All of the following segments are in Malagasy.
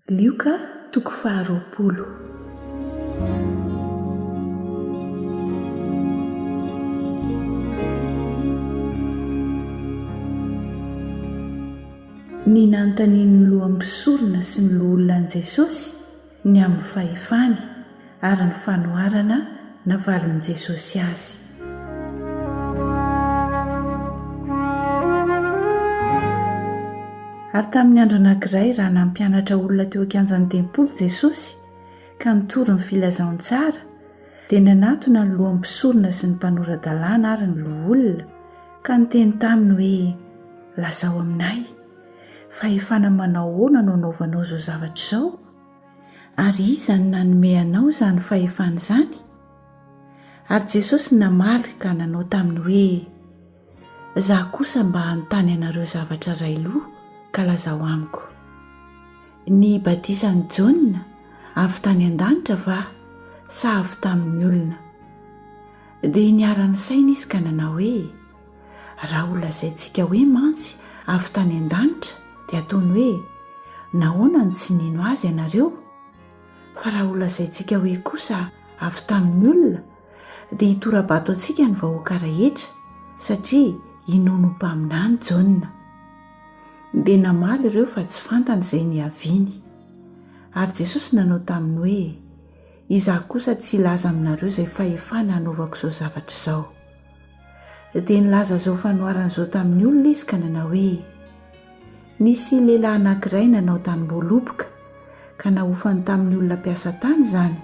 Lioka toko faharoapolo. Ny nanontanian'ny lohan'ny mpisorona sy ny loholona an'i Jesosy ny amin'ny fahefany. ary ny fanoharana navalin'i Jesosy azy. Ary tamin'ny andro anankiray raha nampianatra olona teo an-kianjan'ny tempoly Jesosy ka nitory ny Filazantsara, dia nanatona ny lohan'ny mpisorona sy ny mpanora-dalàna ary ny loholona ka niteny taminy hoe, Lazao aminay, fahefana manao ahoana no anaovanao izao zavatra izao? Ary iza no nanome anao izany fahefana izany? Ary Jesosy namaly ka nanao taminy hoe, Izaho kosa mba hanontany anareo zavatra iray loha, ka lazao amiko. Ny batisan'i Jaona avy tany an-danitra va, sa avy tamin'ny olona? Dia niara-nisaina izy ka nanao hoe, Raha ho lazaintsika hoe mantsy avy tany an-danitra dia ataony hoe nahoana no tsy nino azy ianareo? Fa raha ho lazaintsika hoe kosa avy tamin'ny olona dia hitora-bato antsika ny vahoaka rehetra satria inoany ho mpaminany Jaona. Dia namaly ireo fa tsy fantany izay niaviany. Ary Jesosy nanao taminy hoe, Izaho kosa tsy hilaza aminareo izay fahefana hanaovako izao zavatra izao. Dia nilaza izao fanoharana izao tamin'ny olona izy ka nanao hoe, Nisy lehilahy anankiray nanao tanim-boaloboka ka nahofany tamin'ny olona mpiasa tany izany.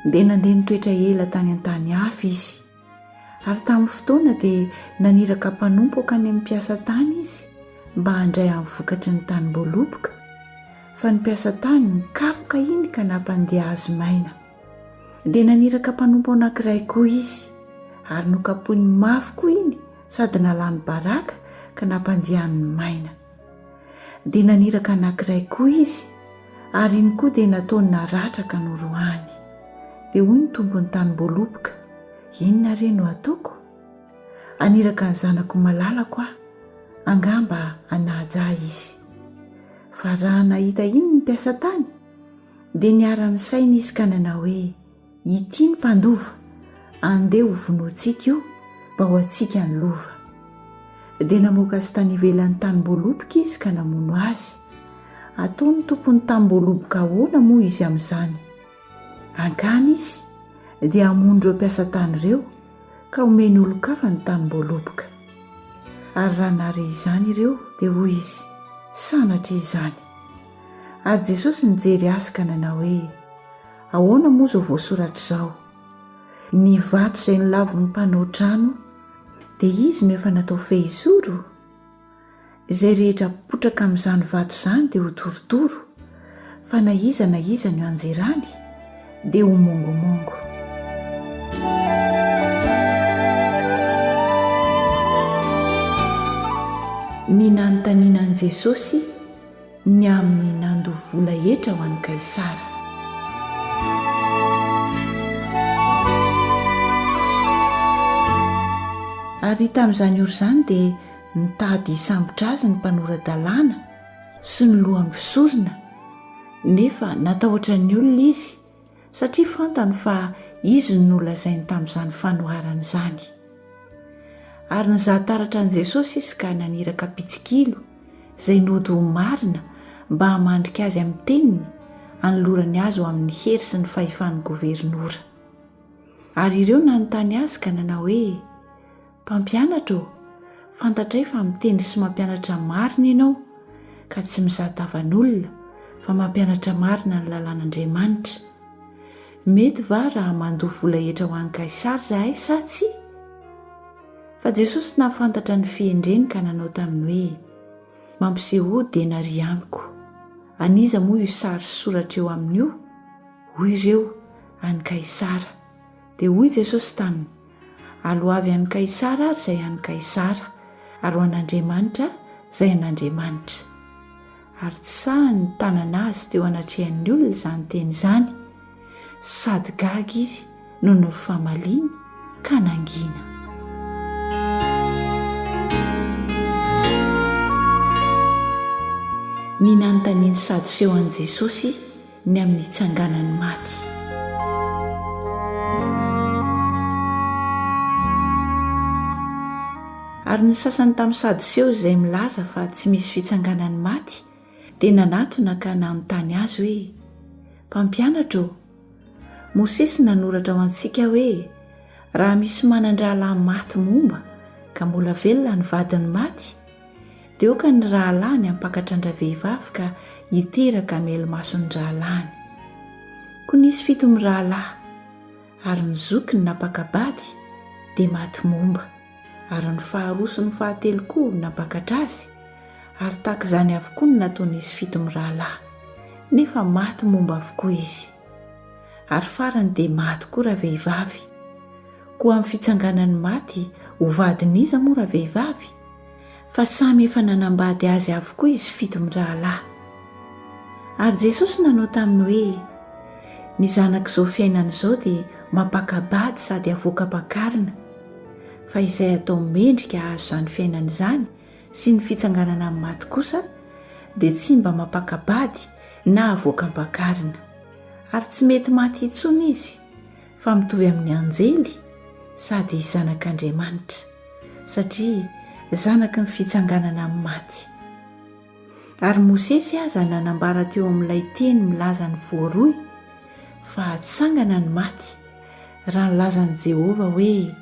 Dia nandeha nitoetra ela tany an-tany hafa izy. Ary tamin'ny fotoana dia naniraka mpanompo hankany amin'ny mpiasa tany izy mba handray amin'ny vokatry ny tanim-boaloboka, fa ny mpiasa tany nikapoka iny ka nampandeha azy maina. Dia naniraka mpanompo anankiray koa izy, ary nokapohiny mafy koa iny sady nalany baraka ka nampandiany maina. Dia naniraka anankiray koa izy, ary iny koa dia nataony naratra ka norohany. Dia hoy ny tompon'ny tanim-boaloboka, Inona re no hataoko? Haniraka ny zanako malalako aho, angamba hanaja ahy izy. Fa raha nahita iny ny mpiasa tany, dia niara-nisaina izy ka nanao hoe, Ity ny mpandova, andeha hovonointsika io mba ho antsika ny lova. Dia namoaka azy tany ivelan'ny tanim-boaloboka izy ka namono azy. Ataon'ny tompon'ny tanim-boaloboka ahoana moa izy amin'izany? Hankany izy dia hamono ireo mpiasa tany ireo ka homeny olon-kafa ny tanim-boaloboka. Ary raha nahare izany ireo dia hoy izy, Sanatria izany! Ary Jesosy nijery azy ka nanao hoe, Ahoana moa izao voasoratra izao, Ny vato izay nolavin'ny mpanao trano, dia izy no efa natao fehisoro? Izay rehetra apotraka amin'izany vato izany dia ho torotoro, fa na iza na iza no ianjerany dia ho mongomongo. Ny nanontaniana an'i Jesosy. ny amin'ny nandoa vola hetra ho an'i Kaisara. Ary tamin'izany ora izany dia nitady hisambotra azy ny mpanora-dalàna sy ny loha mpisorona, nefa natahotra ny olona izy, satria fantany fa izy no nolazainy tamin'izany fanoharana izany. Ary nizaha taratra an'i Jesosy izy ka naniraka mpitsikilo, izay nody ho marina mba hamandrika azy amin'ny teniny, hanolorany azy ho amin'ny hery sy ny fahefan'ny governora. Ary ireo nanontany azy ka nanao hoe, Mpampianatra ô, fantatray fa miteny sy mampianatra marina ianao, ka tsy mizaha tavan'olona, fa mampianatra marina ny lalàn'Andriamanitra. Mety va raha mandoa vola hetra ho an'i Kaisara izahay sa tsia? Fa Jesosy nahafantatra ny fihendreny ka nanao taminy hoe, Mampisehoa denaria amiko. An'iza moa io sary sy soratra eo aminy io? Hoy ireo, An'i Kaisara. Dia hoy Jesosy taminy, Aloavy an'i Kaisara ary izay an'i Kaisara, ary ho an'Andriamanitra izay an'Andriamanitra. Ary tsy sahy nitanana azy teo anatrehan'ny olona izany teny izany, sady gaga izy noho ny fifamaliany, ka nangina. Ny nanontanian'ny Sadoseo an'i Jesosy. ny amin'ny tsanganan'ny maty. Ary ny sasany tamin'ny Sadoseo izay milaza fa tsy misy fitsanganan'ny maty dia nanatona ka nanontany Azy hoe, Mpampianatra ô, Mosesy nanoratra ho antsika hoe raha misy manan-drahalahy maty momba ka mbola velona ny vadin'ny maty, Deoka ny rahalahiny hampakatra an-dravehivavy ka hiteraka hamelo-mason'ny rahalahiny. Koa nisy fito mirahalahy, ary ny zokiny nampaka-bady dia maty momba, ary ny faharoa sy ny fahatelo koa nampakatra azy, ary tahaka izany avokoa no nataon'izy fito mirahalahy, nefa maty momba avokoa izy. Ary farany dia maty koa ravehivavy. Koa amin'ny fitsanganan'ny maty, ho vadin'iza moa ravehivavy? fa samy efa nanambady azy avokoa izy fito mirahalahy. Ary Jesosy nanao taminy hoe, Ny zanak'izao fiainana izao dia mampaka-bady sady avoaka am-pakarina, fa izay atao mendrika hahazo izany fiainana izany sy ny fitsanganana amin'ny maty kosa dia tsy mba mampaka-bady na avoaka am-pakarina. Ary tsy mety maty intsony izy, fa mitovy amin'ny anjely sady zanak'Andriamanitra, satria zanaky ny fitsanganana amin'ny maty. Ary Mosesy aza nanambara teo amin'ilay teny milaza ny voaroy fa hatsangana ny maty, raha nilazan'i Jehovah hoe,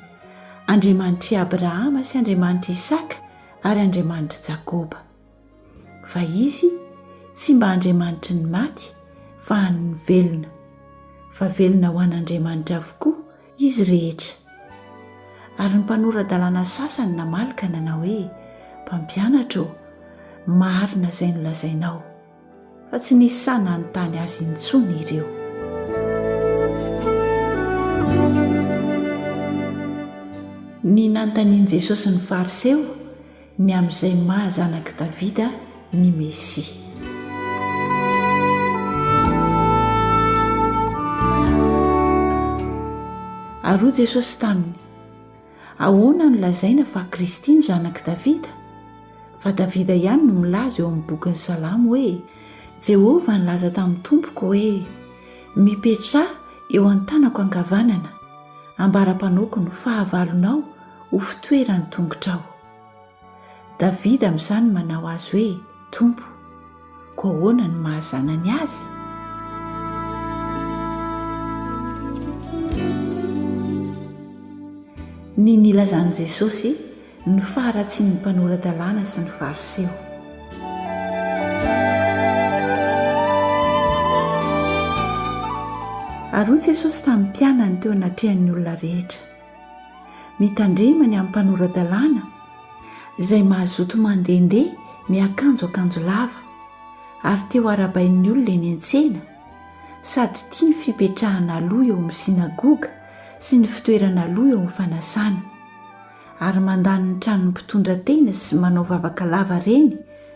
Andriamanitr'i Abrahama sy Andriamanitr'i Isaka ary Andriamanitr'i Jakoba. Fa Izy tsy mba Andriamanitry ny maty, fa an'ny velona. Fa velona ho an'Andriamanitra avokoa izy rehetra. Ary ny mpanora-dalàna sasany namaly ka nanao hoe, Mpampianatra ô, marina izay nolazainao. Fa tsy nisy sahy nanontany Azy intsony ireo. Ny nanontanian'i Jesosy ny Fariseo Ny amin'izay maha zanak'i Davida ny Mesia. Ary hoy Jesosy taminy, Ahoana no lazaina fa Kristy no zanak'i Davida? Fa Davida ihany no milaza eo amin'ny bokin'ny Salamo hoe, Jehovah nilaza tamin'ny Tompoko hoe, Mipetraha eo an-tanako ankavanana, ambara-panaoko ny fahavalonao, ho fitoeran'ny tongotrao. Davida amin'izany no manao azy hoe Tompo. Koa ahoana no maha-zanany azy? Ny nilazan'i Jesosy ny faharatsian'ny mpanora-dalàna sy ny Fariseo. Ary hoy Jesosy tamin'ny mpianany teo anatrehan'ny olona rehetra, Mitandrema ny amin'ny mpanora-dalàna izay mazoto mandehandeha miakanjo akanjo lava ary te ho arahabain'ny olona eny an-tsena sady tia ny fipetrahana aloha eo amin'ny synagoga sy ny fitoerana aloha eo amin'ny fanasana ary mandany ny tranon'ny mpitondra tena sy manao vavaka lava reny